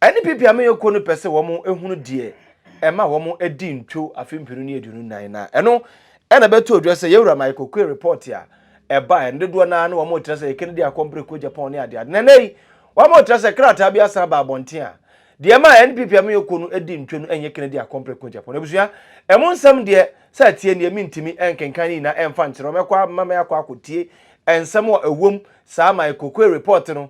Ɛne baabi a me yɔnko no pɛ sɛ wɔhunu deɛ ɛma wɔadi ntwo afe mpenu ne aduonu nnan no a, ɛno na ɛbɛtoo dwa sɛ Yawura ma yɛkɔkuee repɔɔte a ɛbaeɛ no. Dodoɔ no ara na wɔretra sɛ Kennedy akɔ mpreko Japan ne adeade. Na ɛnnɛ yi, wɔretra sɛ krataa bi asan aba abɔnten a deɛ ɛma ɛne baabi a me yɔnko no di ntwo no nyɛ Kennedy akɔ mpreko Japan. Abusua, ɛmu nsɛm deɛ, sɛ ɛteɛ nie, mentumi nkenkan ne nyinaa mfa nkyerɛ wo. Mɛkɔ a, mɛma mɛakɔ akɔtie nsɛm a ɛwom saa ma yɛkɔkuee repɔɔte no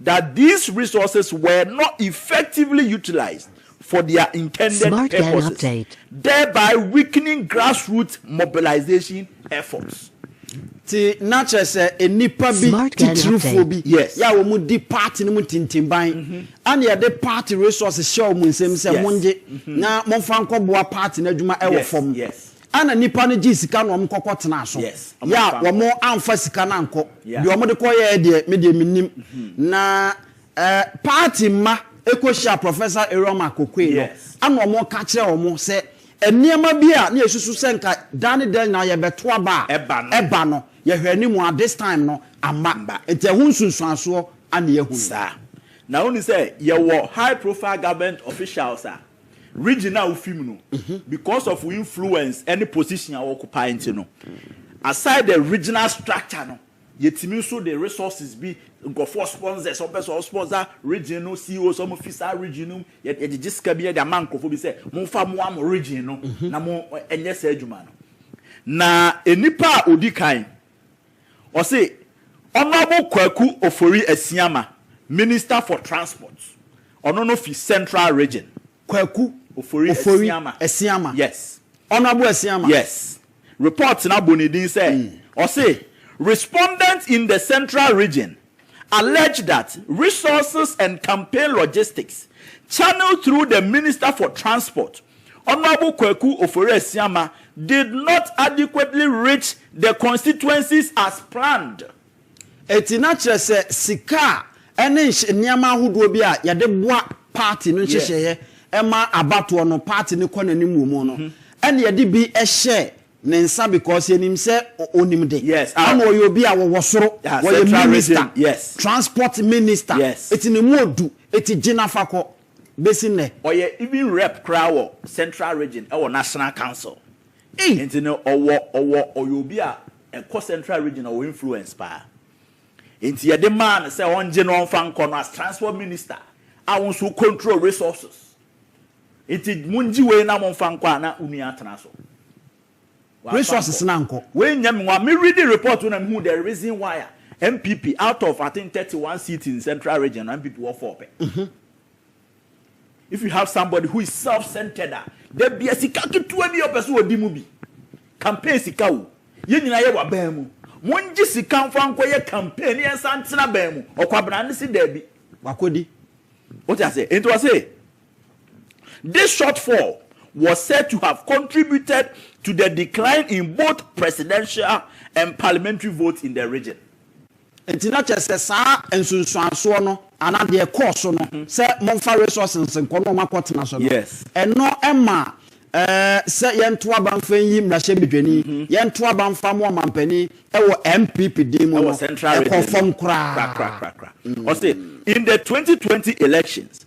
that these resources were not effectively utilised for their intended purposes, thereby weakening grassroots mobilisation efforts. Nti na kyerɛ sɛ nnipa bi titirifoɔ bi yɛ a wɔn di party no mu ntintimban ɛna yɛde party resources hyɛ wɔn nsam sɛ mongye na momfa nkɔboa party no adwuma ɛwɔ fam. Ana nipa no gyee sika na wɔn kɔkɔ tenaa so yɛ a wɔn anfa sika no ankɔ deɛ wɔn de kɔ yɛɛ deɛ me deɛ me nim na eh party mma ɛkɔ hyia professor Iroma Kokoe no ɛna wɔn ka kyerɛ wɔn sɛ nneɛma bi a na yɛ susu sɛ nka daa ne daa nyinaa yɛ bɛ to aba a ɛba no yɛ hwɛ anim a this time no amma nti ɛho nsunsuansoɔ ana yɛ hunu. Saa na wonim sɛ yɛ wɔ high profile government officials a Region a wofi mu no, because of wo influence ne position a wo occupy nti no, aside the regional structure no, yɛtumi nso de resources bi, nkurɔfoɔ sponsors, wɔn pɛ sɛ wɔn sponsor region no, CEOs wɔn fi saa region no mu, yɛ yɛgyegye sika bi yɛde ama nkurɔfoɔ bi sɛ momfa moa mo region no na mo ɛnyɛ saa adwuma no. Na nnipa a odi kan Ɔse Honourable Kwaku Ofori Asiamah, Minister for Transport, ɔno no fi Central Region. Kwaku Ofori Asiamah. Asiamah. Yes. Honourable Asiamah. Yes. Report no abɔ ne din sɛ, ɔse Respondent in the Central Region allege that resources and campaign logistics channelled through the Minister for Transport, Honourable Kwaku Ofori-Asiama, did not adequately reach the constituencies as planned. Enti na kyerɛ sɛ sika a ɛne nhy nneɛma ahodoɔ bi a yɛde boa party no nhyehyɛeɛ ma abatoɔ no party no kɔ n'anim wɔ mu no, ɛna yɛde bi hyɛɛ Ne nsa because yɛnim sɛ ɔnim de. Yes ah. Ana ɔyɛ obi a wɔwɔ soro. Yeah, wɔyɛ central minister. Region, yes. Transport minister. Yes. Eti ne mu odu. Eti gyina fa kɔ. Besi nnɛ. Ɔyɛ even rep koraa wɔ central region ɛwɔ national council. Ei. Nti no ɔwɔ ɔwɔ ɔyɛ obi a ɛkɔ central region ɔwɔ influence paa. Nti yɛde maa no sɛ ɔngye no ɔnfa nkɔ no as transport minister a wo nso wo control resources. Enti mongye wei na momfa nkɔ a na wo nua atena so. Resources no ankɔ. Wei nyɛ me nwa. Me readi report no na mehuu the reason why a NPP out of I think thirty one seats in central region no NPP wɔ four pɛ. If you have somebody who is self centered a da bia sika ketewa bi a ɔpɛ sɛ ɔdi mu bi, campaign sika o, yɛn nyinaa yɛwɔ aban mu, mongye sika mfa nkɔyɛ campaign na yɛnsan ntena aban mu. Ɔkwabena no se daabi. Wakɔdi. Wote aseɛ? Enti ɔse. This shortfall was said to have contributed to the decline in both presidential and parliamentary votes in the region. Nti na kyerɛ sɛ saa nsunsuansoɔ no anaa deɛ ɛkɔɔ so no sɛ momfa resources nkɔ na wɔakɔtena so no, Yes. ɛno ma eh, sɛ yɛnto aba mfa nyi mmarahyɛbedwani, yɛnto aba mfa mo ɔmampanin wɔ NPP din mu Ɛwɔ no, Central ɛkɔɔ Region no. fam koraa. Krakrakrakra. Ɔse, in the 2020 elections,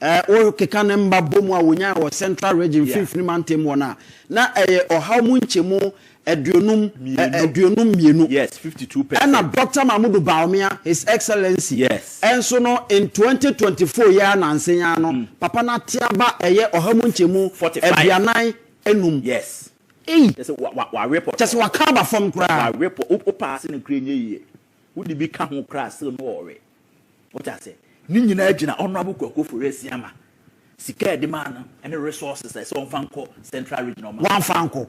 Ɛ, wokeka ne mma bɔ mu a wɔnyae wɔ Central Region Yeah. Mfinfini Mantam mu hɔ no a, na ɛyɛ ɔhaw mu nkyɛmu aduonum, ɛ, Mmienu. aduonum mmienu. Yes, 52 percent. Ɛna Dɔkta Mahmudu Bawumia, His Excellency, Yes. nso no, in 2024 yi ara nansa yi ara no, Papa no ate aba ɛyɛ ɔha mu nkyɛmu 45. aduanan nnum. Yes. Ei! Kyɛ sɛ wa, wa, wawe pɔtɔɔ. Kyɛ sɛ waka aba fam koraa. Wawe pɔ, wo, wo paase no koraa nyɛ yie. Wode bi ka ho koraa a, still no ɔwe. Wote aseɛ? Ne nyinaa gyina Honourable Kwaku Ofori Asiamah sika a yɛde maa no ne resources a ɛsɛ wɔmfa nkɔ Central Region a wɔamfa ankɔ.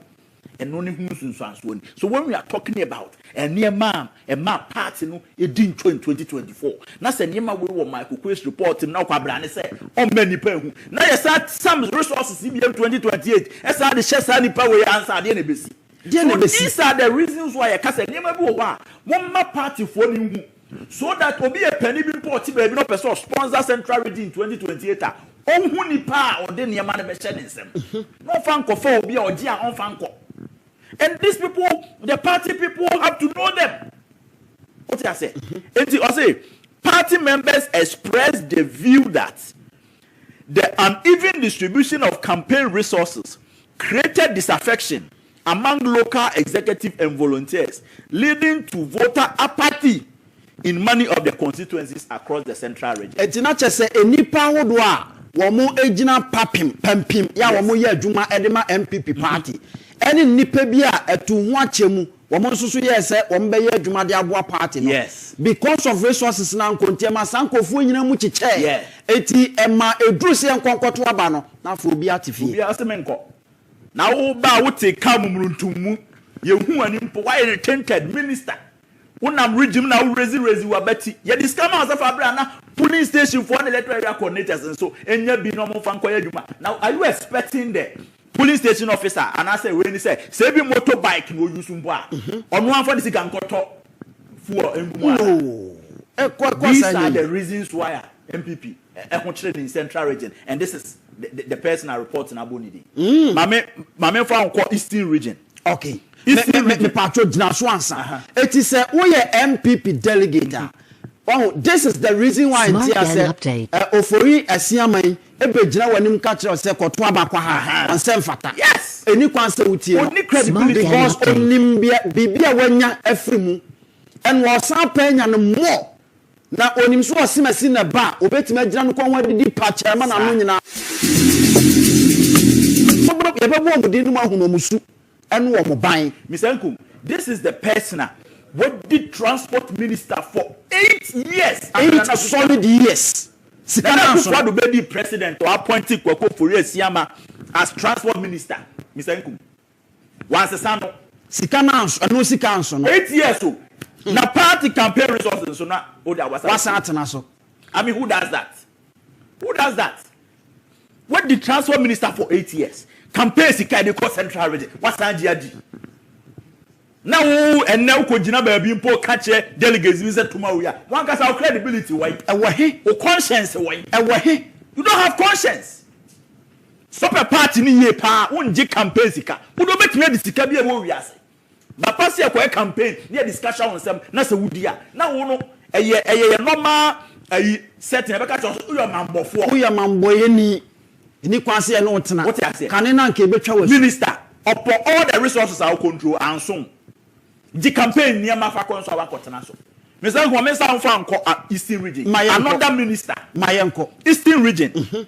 Ɛno ne ho nsunsuansoɔ ni. So when we are talking about nneɛma a ɛmaa party no di ntwa in 2024, na sɛ nneɛma wei wɔ Michael Oquaye's report mu na ɔkɔ abrane sɛ ɔmma nnipa nhu, na yɛsan some resources yi bi yam 2028 san de hyɛ saa nnipa wei ansa a, deɛ na ɛbɛsi? So these are the reasons why yɛka sɛ nneɛma bi wɔ hɔ a momma partyfoɔ no nhu. So that obi yɛ pɛni bi mpo a ɔte baabi na ɔpɛ sɛ ɔsponsor Central Region in twenty twenty eight a, ɔnhu nipa a ɔde nneɛma no bɛhyɛ ne nsam na ɔmfa nkɔfa obi a ɔgye a ɔmfa nkɔ. And these people, the party people have to know them. Wote aseɛ? Enti ɔse, Party members expressed the view that the uneven distribution of campaign resources created disaffection among local executive and volunteers leading to voter apathy in many of the constituencies across the central region. Ɛgyina kyɛ sɛ nnipa ahodoɔ a wɔgyina papem, pampim, yɛ a wɔyɛ adwuma de ma NPP paati ne nnipa bi a atuu ho akyɛ mu wɔn nso so yɛɛ sɛ wɔbɛyɛ adwuma de aboa paati no because of resources no ankɔ nti ɛma saa nkurɔfoɔ nyinaa mu kyekyɛɛ nti ɛma ɛduru sɛ yɛnkɔ nkɔto aba no na afei obiara te fie. Obiara se menkɔ. Na wo ba a wotee kaa mu muruntum mu, yɛnhuu w'ani mpo, woayɛ no tainted minister, wonam regime na wo raise raise w'abati, yɛde sika maa wo sɛ fa bra na polling station foɔ ne electoral area coordinators nso nya bi na wɔmfa nkɔyɛ adwuma, now are you expecting the polling station officer anaasɛ wei ne sɛ, sɛ ebi motor bike na ɔuse mpo a, ɔno amfa ne sika nkɔtɔ fuel ngu mu anaa? These are the reasons why a npp. Ɛho kyerɛ ne central region and this is the the person a report no abɔ ne din. Ma me ma me nfa nkɔ eastern region. Okay. Eastern region. Me pa to gyina so ansa. Eti sɛ wo yɛ NPP delegate a. Wahu this is the reason why nti asɛ ofori asiaman ebe gyina w'anim ka kyerɛ sɛ kɔto aba kwa ha ɔnsɛ mfata. Yes. Eni kwan sɛ wotie no. Onni credibility. Because onim bia biribi a wanya afiri mu and ɔsan pɛ anya no more. Na onim sɛ ɔsemasi na ɛba a, obetumi agyina no kɔn ho adidi pakyɛ ama n'ano nyinaa. Yɛbɛbɔ wɔn din no mu ahunu wɔn su ne wɔn ban. Mister Nkum, this is the person a wadi transport minister for eight years under Nana Akufo-Addo. Eight solid years. Sika Nana Akufo-Addo bedi president, ɔappointe Kwaku Ofori-Asiamah as transport minister, Mister Nkum. Wɔansesa no. Sika no anso, ɛno sika anso no. Eight years o, na party campaign resources nso na o de a wasan. Wasan atena so. I mean who does that? Who does that? Wadi transport minister for eight years, campaign sika de kɔ central region, wasan gye adi. Na wo ɛnɛ wokɔ gyina baabi mpo ka kyerɛ delegates bi sɛ tuma wia, wankasa wo credibility wɔn? Ɛwɔ he? Wo conscience wɔn? Ɛwɔ he? You don't have conscience. Sopɛ party no yie paa wongye campaign sika wode wobɛtumi adi sika bi a ɛwɔ wiase ba pa sɛ kɔyɛ campaign ne yɛde sika hyɛ wo nsam na sɛ wodi a na wo no ɛyɛ ɛyɛ yɛ normal ayi setting ɛbɛka kyerɛ wo sɛ woyɛ ɔmanbɔfoɔ. Woyɛ ɔmanbɔyɛni ɛni kwan sɛ yɛne wo tena Wote aseɛ? kane no anka ɛbɛtwa wo asu. Minister ɔpɔ all the resources a wo control anso wo gye campaign nneɛma fa kɔ nso a wakɔ tena so Mister Nkrumah mensa wo mfa nkɔ a eastern region Ma yɛnkɔ another minister ma yɛnkɔ. eastern region.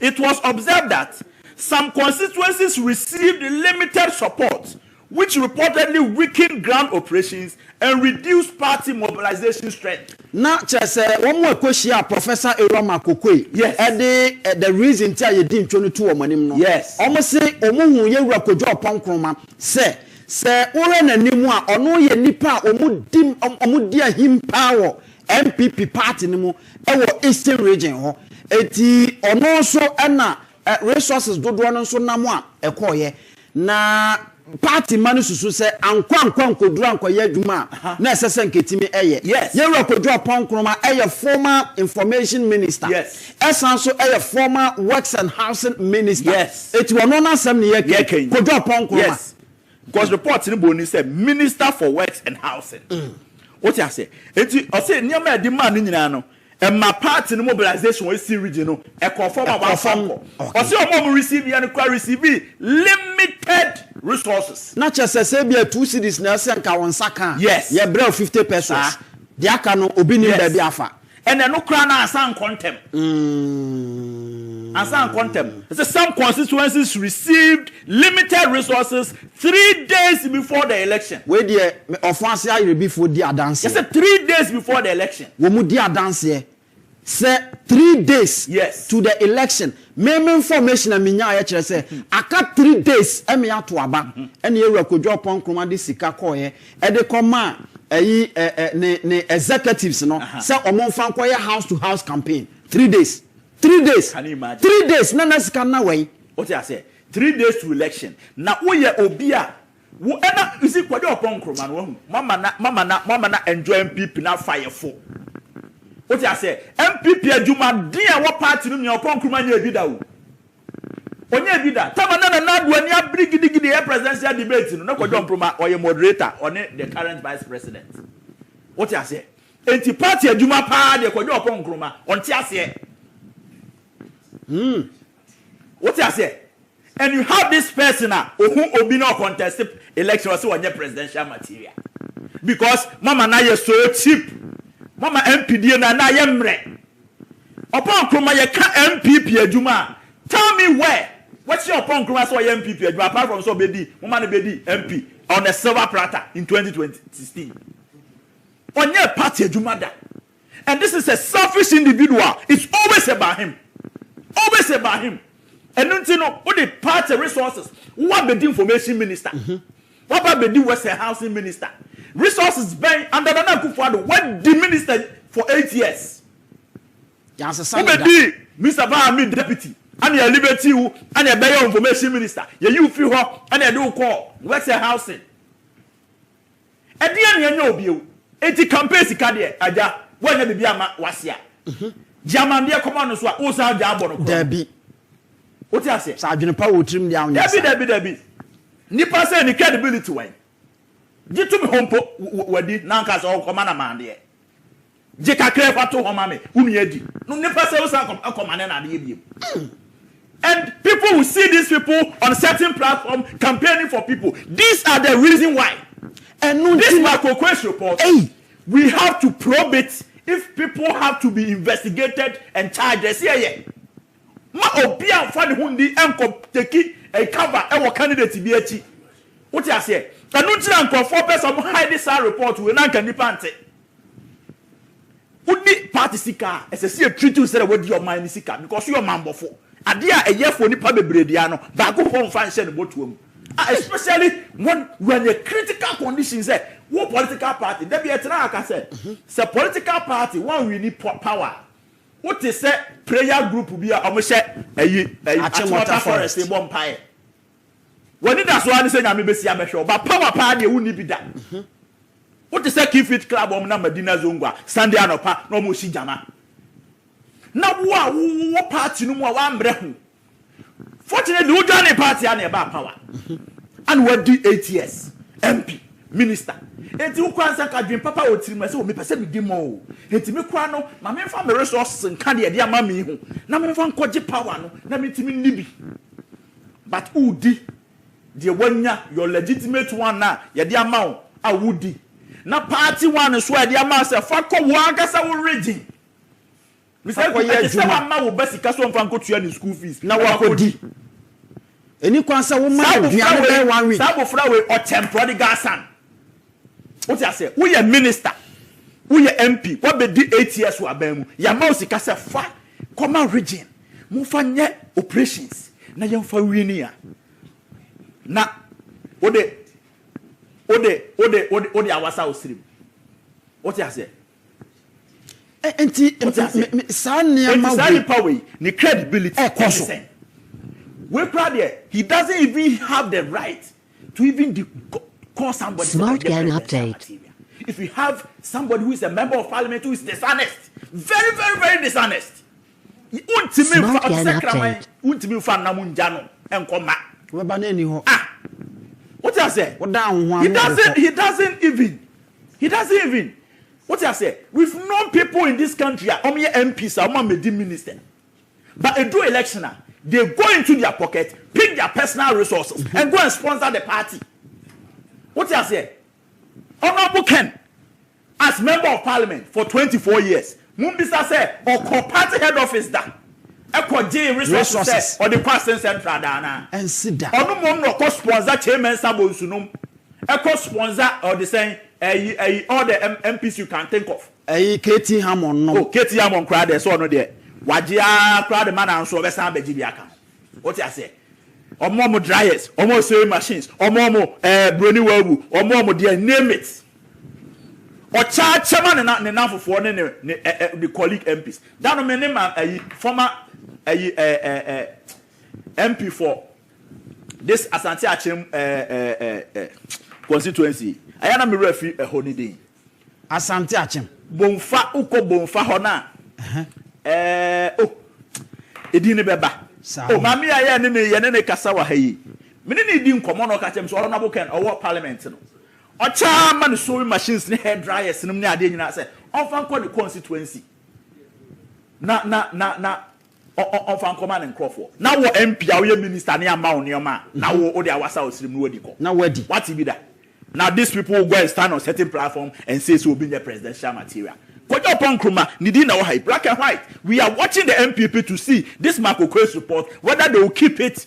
It was observed that some constituencies received limited support which reportedly weakened ground operations and reduced party mobilization strength. Na kyerɛ sɛ wɔn a ɛkɔhyiaa Professor Eruama Akokue Yes. de the reason nti a yɛdi ntwo no to wɔn anim no, Yes. wɔse wɔhuu Yɛwura Kojo Oppong Nkrumah sɛ sɛ wohwɛ n'anim a ɔno yɛ nnipa a wɔdi wɔn wɔdi ahim paa wɔ NPP party no mu wɔ Eastern Region hɔ. Enti ɔno nso na resources dodoɔ no nso nam a ɛkɔeɛ. Na party mma no susu sɛ ankɔ ankɔ ankɔduru ankɔyɛ adwuma a na ɛsɛ sɛ anka ɛtumi yɛ. Yɛn Wura Kojo Oppong Nkrumah yɛ former Information Minister, ɛsan nso yɛ former Works and Housing Minister. Enti ɔno n'asɛm na yɛreka yi. Kojo Oppong Nkrumah. because report no bɔ ni sɛ minister for works and housing wote aseɛ eti ɔsɛ nneɛma a ɛde maa no nyinaa no ɛma party no mobilization wɔn esi region no ɛkɔɔ fam a wɔafa kɔ ɔsɛ wɔn a wɔn receive yɛ no kora receive limited resources. na kyɛ sɛ sɛ ebi a two cities na ɛsɛ nka wɔn nsa ka a yes yɛbrɛ fifty pesos deɛ aka no obi nim baabi afa. Ɛnɛ no koraa na ansa nkɔ ntɛm. Ansa nkɔ ntɛm. It says some constituencies received limited resources three days before the election. Wei deɛ ɔfo ase ayerɛbifoɔ di adanseɛ. Yɛsɛ three days before the election. Wɔn di adanseɛ sɛ three days yes. to the election. Me me information a menyaeɛ kyerɛ sɛ aka three days ɛme ato aba ɛne Ewura Kodwo Ɔpɔn Nkrumah de sika kɔɔeɛ de kɔma ɛyi ɛ ɛ ne ne executives no sɛ wɔn nfa nkɔyɛ house to house campaign three days three days three days na na sika na wɛn. o ti a sɛ three days to election na wo yɛ obi a wo ɛna you see Kwadi Ɔpɔn Nkrumah no wa hu mo ama na mo ama na mo ama na enjoy NPP na fa yɛ fo o ti a sɛ NPP adwuma den a ɛwɔ party no mia Ɔpɔn Nkrumah nyɛ bi da o Ɔnyɛɛ bi da. Tama na Nana Addo ani abere gidigidi ɛyɛ presidential debate no na Kwadwo Nkrumah ɔyɛ moderator ɔne the current vice president. Wo te aseɛ? Enti party adwuma paa deɛ Kwadwo Ɔpɔn Nkrumah ɔnte aseɛ. Hmm. Wo te aseɛ? And you have this person a ɔhu obi na ɔcontest election ɔse ɔnyɛ presidential material because mo ama no ayɛ so cheap. Mo ama MP die no na ayɛ mmerɛ. Ɔpɔn Nkrumah yɛ ka NPP adwuma a tell me where wɔahyia Ɔpɔn Nkrumah sɛ ɔyɛ NPP adwuma apart from sɛ ɔbɛdi moma no bɛdi MP on a silver platter in twenty twenty sixteen ɔnyɛɛ party adwuma da and this is a selfish individual it's always about him always about him ɛno nti no wode party resources wo abɛdi information minister. Waba bedi western housing minister resources bɛn under Nana Akufo Addo wadi minister for eight years wo bedi Mister Baa Ami deputy ɛna yɛ elevate wo ɛna yɛ bɛyɛ wo information minister yɛ yi wo firi hɔ ɛna yɛde wo kɔɔ western housing ɛdeɛn na yɛnyɛ wo bio enti campaign sika deɛ agya woanyɛ biribi amma wase a gye amandeɛ kɔma no so a wosan gya abɔ no korɔ no. Dabi. Wote aseɛ? Sɛ adwene pa wɔ wo tirim deɛ a wonyɛ saa. Dabi, dabi, dabi. Nnipa sɛɛ ne credibility wɔ he? Gye to me hɔ mpo, wadi, na anka sɛ ɔkɔma na maa deɛ. Gye kakraa fa to hɔ ma me, wo nua di. No, nnipa sɛɛ wosan kɔma ne na adeɛ biom. And people will see these people on certain platform campaigning for people. These are the reason why. Ɛno nti. This Makokoe's report. Ei. We have to probe it if people have to be investigated and charged. Ɛsɛ yɛyɛ. Mma obiara mmfa ne ho nni nkɔ teki a cover wɔ candidate bi akyi. Wote aseɛ? Ɛno nti na nkurɔfoɔ pɛ sɛ wɔn hide saa report wei na anka nnipa nte. Wodi party sika a, ɛsɛ sɛ yɛ treat wo sɛdeɛ wadi ɔman no sika because woyɛ ɔmanbɔfo. Adeɛ a ɛyɛ for nnipa bebree deɛ no, baako mpo mmfa nhyɛ ne bɔtoa mu. A especially when you are in a critical condition sɛ wo political party, da bi ɛtenaa ha ka sɛ, sɛ political party wɔn wini power a, Wo te sɛ prayer group bi a ɔmo hyɛ ɛyi Achimota forest rebɔ mpaeɛ. W'ani da so ara ne sɛ Nyame bɛsi abɛhwɛ wo but power paa deɛ wonni bi da. Wo te sɛ Key Fit Club a ɔmo nam Madina Zongua Sunday anɔpa na ɔmo resi gyama. Na wo a wo wɔ party no mu a w'ammrɛ ho. Fortunately wo join ne party a na ɛbaa power a na wadi eight years MP minister enti wo koraa nsa ka dwen papa wɔ tirim ɛsɛ o mepɛ sɛ medi mɔ o enti me koraa no ma memfa me resources nka deɛ ɛde ama me ho na memfa nkɔgye power no na mentumi nni bi but wodi deɛ wanya your legitimate one a yɛde ama wo a wodi na party one nso a yɛde ama sɛ fa kɔ wo ankasa wo region Mr Kweku, ɛte sɛ woama wo ba sika sɛ ɔmfa nkɔtua ne school fees na wakɔdi. Ɛnni kwan sɛ woma no aduane bɛyɛ one week. Saa abofra wei, ɔkyɛmprɔ de gasan. Wote aseɛ? Woyɛ minister, woyɛ MP, woabɛdi eight years wɔ aban mu, yɛama wo sika sɛ fa kɔma region, momfa nyɛ operations na yɛmfa wini a, na wode, wode, wode, wode, wode awasa wo serem. Wote aseɛ? Nti saa nneɛma wei. Saa nipa wei ne credibility ɛkɔ so. Wei kura deɛ he doesn't even have the right to even de call somebody. Smart gang update. If you have somebody who is a member of parliament who is dishonest, very very very dishonest, Wontumi nfa ɔte sɛ kraman wontumi nfa nam ngya no nkɔ mma. Wobɛba na ɛni hɔ. Ah wote aseɛ. Wodan wo ho ano de kɔ. He doesn't even he doesn't even wote aseɛ we've known people in this country a wɔn yɛ MPs a wɔn a mɛdi minister but edu election a they go into their pocket pick their personal resources mm-hmm. and go and sponsor the party wote aseɛ honourable Ken. As member of parliament for twenty four years, mo mbisa sɛ ɔkɔ party head office da kɔ gyee resources sɛ ɔde kɔ Asen central da anaa? Ɛnsi da. Ɔno mmom na ɔkɔ sponsor Kyei Mensah bonsu nom, ɛkɔ sponsor ɔde sɛn ɛyi ɛyi all the MPs you can think of. Ɛyi KT Hammond nom. Oh KT Hammond koraa deɛ sɛ ɔno deɛ wagye aa koraa de ma nanso ɔbɛsan abɛgye bi aka ho. Wote aseɛ? Ɔmo ɔmo dryers, ɔmo sewing machines, ɔmo ɔmo ɛɛ broni wawu, ɔmo ɔmo deɛ name it. Ɔkyɛakyɛ ma ne na ne nanfofoɔ ne ne ne ɛ ɛ ne colleague MPs. Da no me ne ma ayi former ayi ɛ ɛ ɛ MP for this Asante Akyem ɛ ɛ ɛ ɛ constituency. Ɛyɛ na me wura fi ɛhɔ ne din. Asante Akyem. Bomfa wokɔ Bomfa hɔ no a. Ɛhɛn. Ɛɛ oh edin no bɛba. Saa. Oh maame a yɛ ne ne yɛ ne ne kasa wɔ ha yi. Me ne ne di nkɔmɔ na ɔka kyerɛ me sɛ Honourable Ken ɔwɔ parliament no. Ɔtaa ma ne sewing machines ne hair dryers nom ne adeɛ nyinaa sɛ ɔmfa nkɔ ne constituency na na na na ɔ ɔ ɔmfa nkɔma ne nkorɔfoɔ. Na wɔ MP a woyɛ minister ne ama wo nneɛma a, na wo wode awasa wo serem na woadi kɔ. Na woadi. Wate bi da? Now these people will go and stand on certain platform and say sɛ obi nyɛ presidential material. Kojo Oppong Nkrumah, ne din na wɔ ha yi, black and white. We are watching the NPP to see this Mark Oquaye's report whether they will keep it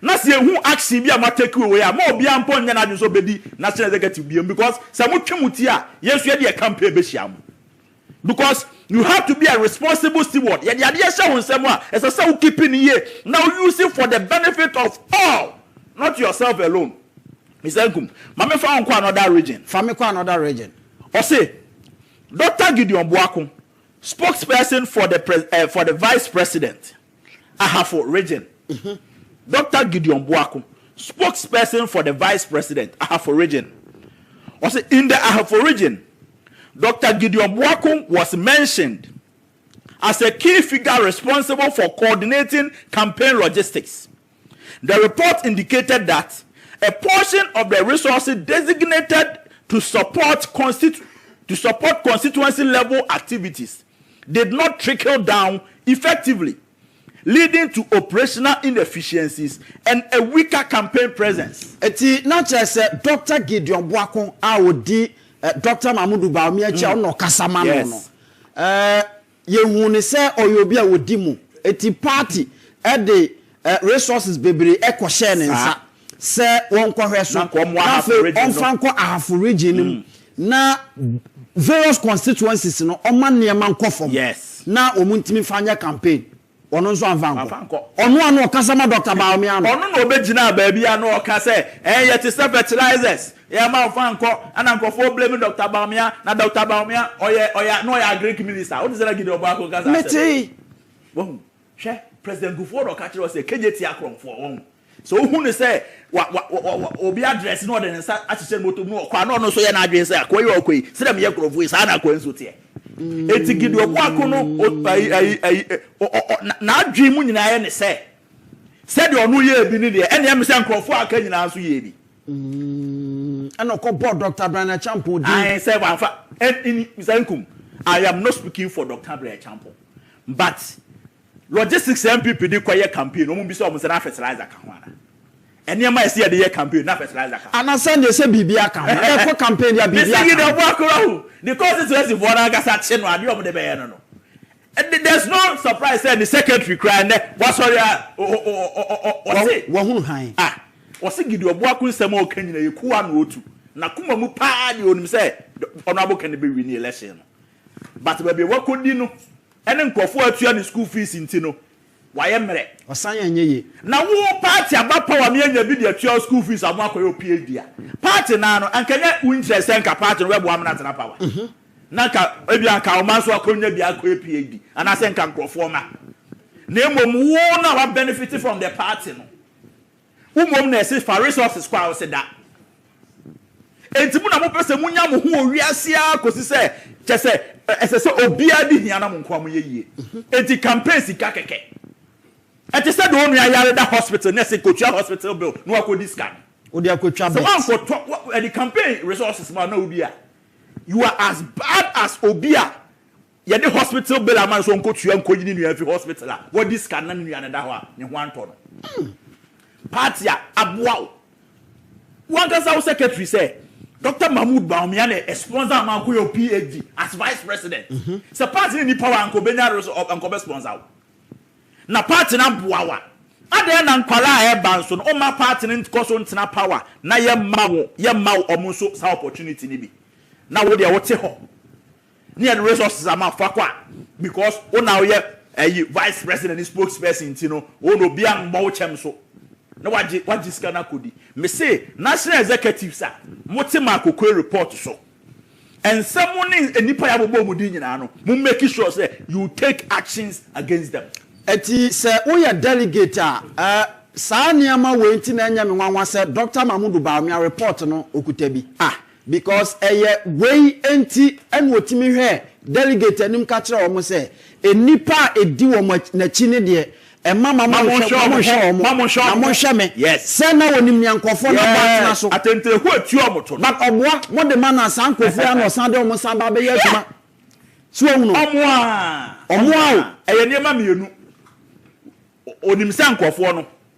Na sɛ ehu action bi a mo atake wɔ wei a, mma obiara mpo nyɛ n'adwene sɛ ɔbɛdi national executive biom because sɛ mo twe mo ti a, yɛn nso yɛde yɛn campaign bɛhyia mo. Because you have to be a responsible steward, yɛde adeɛ hyɛ wo nsam a, ɛsɛ sɛ wo keep no yie na wo use for the benefit of all, not yourself alone. Mister Nkum, ma me fa wo nkɔ another region. Fa me kɔ another region. Ɔse, Doctor Gideon Boako, spokesperson for the pres eh, for the vice president. Ahafo Region, Dɔkta Gideon Boako, spokesperson for the Vice President, Ahafo Region, ɔse in the Ahafo Region, Dɔkta Gideon Boako was mentioned as a key figure responsible for coordinating campaign logistics. The report indicated that a portion of the resources designated to support to support constituency-level activities did not trickle down effectively, leading to operational inefficiencies and a weaker campaign presence. Enti na kyerɛ sɛ Dɔkta Gideon Boako a ɔdi Dɔkta Mamoudou Bawumia akyi a ɔno na ɔkasa ma no no, Yɛhuu no sɛ ɔyɛ obi a ɔdi mu, enti paati de resources bebree kɔhyɛɛ ne nsa sɛ wɔnkɔhwɛ so, na afei ɔmfa nkɔ Ahafo Region no mu, na various constituencies no, ɔmma nneɛma nkɔ fam na wɔntumi mfa nyɛ campaign. Ɔno nso amfa ankɔ. Wamfa ankɔ. Ɔno a na ɔkasa ma Dɔkta Bawumia no. Ɔno na ɔbɛgyinaa baabi a na ɔka sɛ, Ɛyɛ te sɛ fertilizers. Yɛmma ɔmfa ankɔ. Ɛna nkurɔfoɔ blame Dɔkta Bawumia. Na Dɔkta Bawumia, ɔyɛ, ɔyɛ, na ɔyɛ Agric Minister. Wote sɛ na Gideon Boakye nka saa asɛm no? Metee. Wahu? Hwɛ, President Kufuor na ɔka kyerɛɛ wo sɛ, Kegyeti akorɔmfoɔ. Wahu? Sɛ ohu no sɛ wa wa wa wa obi address na ɔde ne nsa ahyehyɛ ne bɔtɔ mu na ɔkɔ a na ɔno nso yɛ n'adwene sɛ akoa yi a ɔkɔ yi sɛ dɛm yɛ nkurɔfoɔ yi saa na akoa nso teɛ. Eti Gideon Boako no o ayi ayi ayi ɔ ɔ ɔ na n'adwene mu nyinaa yɛ ne sɛ sɛdeɛ ɔno yɛɛ bi ne deɛ ɛneɛ me sɛ nkurɔfoɔ a aka nyinaa nso yɛɛ bi. Ɛna ɔkɔ bɔɔ Doctor Brian Acheampong din. Ae sɛ wamfa ɛni sɛ nkum I am not speaking for Doctor Brian Acheampong but Logistics a NPP de kɔ yɛ campaign no, wɔmmisa wɔn sɛ na fertilizer ka ho anaa? Nneɛma a ɛsɛ yɛde yɛ campaign no, na fertilizer ka ho? Anaa sɛ neɛ sɛ biribiara ka ho? Ɛkɔ campaign deɛ a biribiara ka ho. Mr Yidaw Boakura ho, ne constituency foɔ no ankasa kye no adeɛ a wɔde bɛyɛ no no, there's no surprise sɛ ne secretary koraa nnɛ wasɔre a ɔse. Wahunu hann. Ah, wɔse Gideon Boako nsɛm a ɔka nyinaa yɛ kuwa na ɔtu. N'akoma mu paa deɛ ɔnim sɛ Honourable Kenneth bɛwini election no. But baabi a wakɔdi no ne nkurɔfoɔ a atua ne school fees nti no, wayɛ mmerɛ. Ɔsan yɛ nyɛ ye. Na wo party aba power me anya bi de atua wo school fees ama akɔyɛ wo PhD a, party naa no anka nyɛ wo interest sɛ nka party no bɛboa me no atena power. Na nka ebia anka ɔma nso akɔnya bi akɔyɛ PhD anaasɛ nka nkurɔfoɔ ma. Na mmom wo no a wa benefit from the party no. Wo mmom na ɛse fa resources kɔ a ɔse da. Enti mo na mopɛ sɛ monya mo ho wɔ wiase ara kɔsi sɛ kyɛ sɛ ɛsɛ sɛ obiara di hia na mo nkoa moyɛ yie. Enti campaign sika kɛkɛ. Ɛte sɛ deɛ onua yare da hospital na ɛse kɔtua hospital bill na wakɔdi sika no. Wode akɔtwa bet. Sɛ wankɔtɔ ɛde campaign resources ma na wodi a you are as bad as obi a Yɛde hospital bill ama no sɛ ɔnkɔtua nkɔyi ne nua mfi hospital a wadi sika no na ne nua no da hɔ a ne ho antɔ no. Party a aboa wo. Wo ankasa wo secretary sɛ Doctor Mahmood Bawumia na ɛ sponsor ama wokɔyɛ wo PhD as vice president. Sɛ party no nni power a anka ɔbɛnya res ɔ anka ɔbɛ sponsor wo. Na party no aboa wo a adɛn na nkwadaa a ɛreba nso no womma party no nkɔ so ntena power na yɛmma wo yɛmma wo wɔn nso saa opportunity no bi na wo deɛ wote hɔ. Ne yɛde resources ama fa kɔ a because wo na woyɛ ɛyi vice president ne spokes person nti no wo na obi ammɔ wo kyɛm so na wagye wagye sika no akɔdi. Me se national executives a mo te ma akokoe report so ɛnsɛ mo ne nnipa yɛ abobɔ wɔn din nyinaa no mo make sure sɛ you take actions against them. Ɛti sɛ woyɛ delegate a ɛ saa nneɛma wei nti na ɛnyɛ me nwanwa sɛ Doctor Mahmudu Bawumia report no okuta bi. Ah Because ɛyɛ wei nti na ɔtumi hwɛ delegate anim ka kyerɛ wɔn sɛ, nnipa a ɛdi wɔn akyi, n'akyi no deɛ, ɛmma ma monhwɛ wɔn, na monhwɛ me, sɛ na ɔnim nea nkurɔfoɔ no abɔ atena so. But ɔboa, mode ma no a, saa nkurɔfoɔ yi ara na ɔsan de wɔn san ba bɛyɛ adwuma. So wahunu? Ɔmoa o. Ɛyɛ nneɛma mmienu. Ɔnim sɛ nkurɔfoɔ no.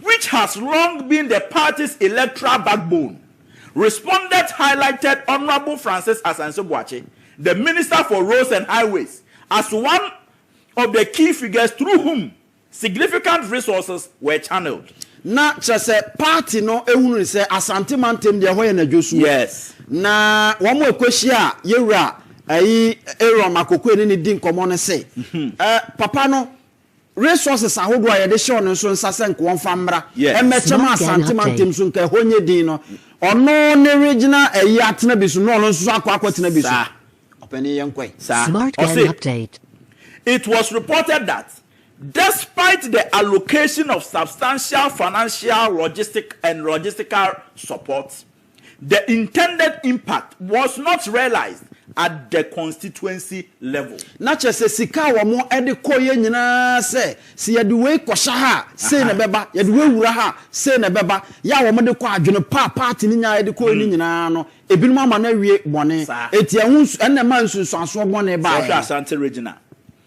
which has long been the party's electoral backbone, respondents highlighted Honourable Francis Asante Boakye, the Minister for Roads and Highways, as one of the key figures through whom significant resources were channelled. Na kyerɛ sɛ party no hunu no sɛ Asante mantam deɛ ɛhɔ yɛ n'adwosuo. Yes. Na wɔn a ɛkɔhyia yɛwura ayi Aaron Makokoe ne no di nkɔmmɔ no se, Papa no Resources ahodoɔ a yɛde hyɛ wɔn nso nsa sɛ nka wɔmfa mmra mmɛkyɛ ma Asante mantam so nka ɛhɔ nyɛ din no, ɔno ne regional ayi atena bi so na ɔno nso akɔ akɔtena bi so. Saa. Ɔpanin yɛn nkɔ yi. Saa. Ɔse, It was reported that despite the allocation of substantial financial logistic and logistical support The intended impact was not realised at the constituency level. Na kyerɛ sɛ sika a wɔde kɔeɛ nyinaa sɛ, sɛ yɛde wei kɔhyɛ ha a, sei na ɛbɛba, yɛde wei wura ha a, sei na ɛbɛba. Yɛ a wɔde kɔ adwene pa a party no nyaeɛ de kɔeɛ no nyinaa no, ebinom ama no awie bɔne. Enti ɛho nsu, ɛnna ɛmaa nsunsuansoɔ bɔne baeɛ. Sɛ wohwɛ Asante Regional,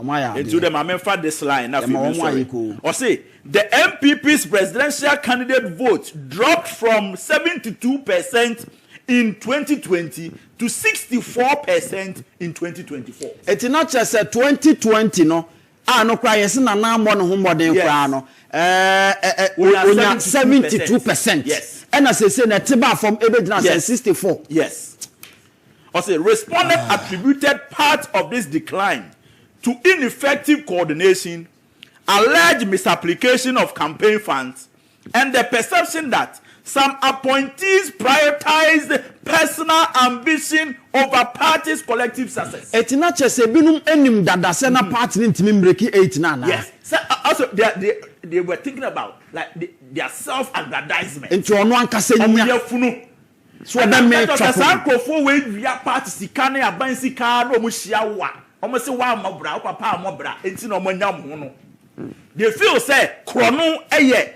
Wɔayɛ enti adeɛ. wode ma memfa this line na afei Yɛma wɔn ayɛ mensɔre. koo. Ɔse. The NPP's presidential candidate vote dropped from seventy two per cent in twenty twenty to sixty four per cent in twenty twenty four. Enti na kyerɛ sɛ twenty twenty no, a no koraa yɛse Nana ammɔ ne ho mmɔden koraa no, ɛɛ, onya seventy two per cent. Ɛna seesei no ɛte baa fam ɛbɛgyina sɛn? Sixty four. Yes. Ɔse respondents attributed part of this decline to ineffective coordination alleged misapplication of campaign funds and the perception that some appointees prioritized personal ambition over party's collective success. Ɛte na kyɛ sɛ binom nim dada sɛ na party no ntumi mbreki eight no anaa? Yes, sɛ also they they they were thinking about like their self aggrandizement. Nti ɔno ankasa nya. Wɔn yafunu. Ɛtɔ sɛ saa nkurɔfoɔ wei wia party sika ne aban sika ara na wɔn hyia wo a, wɔn se woammɔ bra, wo papa ammɔ bra nti na wɔn anya wɔn ho no. They feel sɛ korɔno yɛ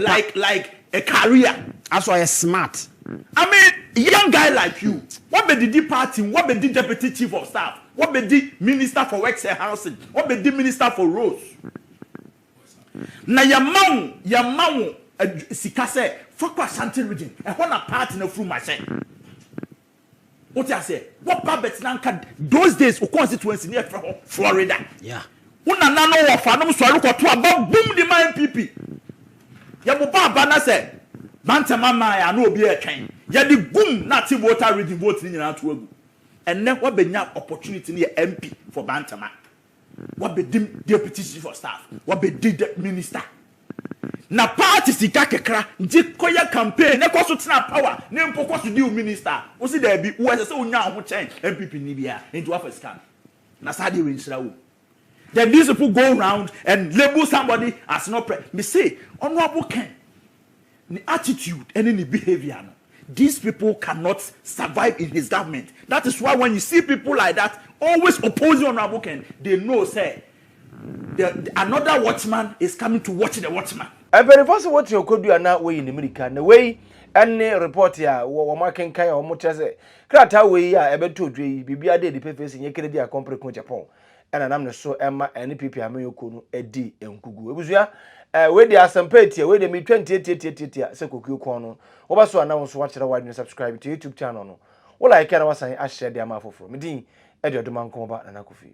like like a career. As ɔyɛ smart. I mean young guy like you, woabɛdidi party mu, woabɛdi Deputy Chief of Staff, woabɛdi Minister for Works and Housing, woabɛdi Minister for Roads. Na yɛma wo yɛma wo adw sika sɛ fa kɔ Ashanti region, ɛhɔ na party no afurum ahyɛ. Wote aseɛ? Woba bɛtena nka those days wo constituency no yɛfrɛ hɔ Florida. Yeah. Wo nana no wɔfa nom sɔre kɔto aba bum de ma NPP. Yɛbobɔ aba na sɛ mantɛm aman a na obi retwɛn. Yɛde gum na ate Volta region vote no nyinaa to agu. Ɛnnɛ woabɛnya opportunity no yɛ MP for Bantama. Wabɛdim deputy chief of staff, wabɛdi de minister. Na party sika kekra gye kɔyɛ campaign na kɔso tena power ne mpo kɔso di wo minister. Wosi daabi, wo ɛsɛ sɛ wonya wo ho kyɛn NPP ni biara, enti wafa sika no. Na saa deɛ wenhyira wom. Then these people go round and label somebody as not pre. Mese, Honourable Ken, ne attitude ne ne behaviour no these people cannot survive in his government that is why when you see people like that always opposing honourable Ken they know sɛ the another watchman is coming to watch the watchman. Mpanyinfoɔ se wote okodu a na woyi ne mirika na wei ne report a wɔn akenkan a wɔn kyerɛ sɛ krataa wei a ɛbɛto odwe yi biribiara da adi pefee se nyɛ Kennedy Akompere Kunchapong na nam ne so ma NPP amanyɔkuo no di nkugu. Abusua, eh, wei deɛ asɛmpa etia, wei deɛ metwa ntiatiatiatiatia sɛ kokuo kɔn no. Woba so a na wo nso wakyerɛ w'adwene subscribe to YouTube channel no. Wo like a na wasan ahyɛ de ama afoforɔ. Me din ɛde Ɔdomankɔmɔba Nana Kofi.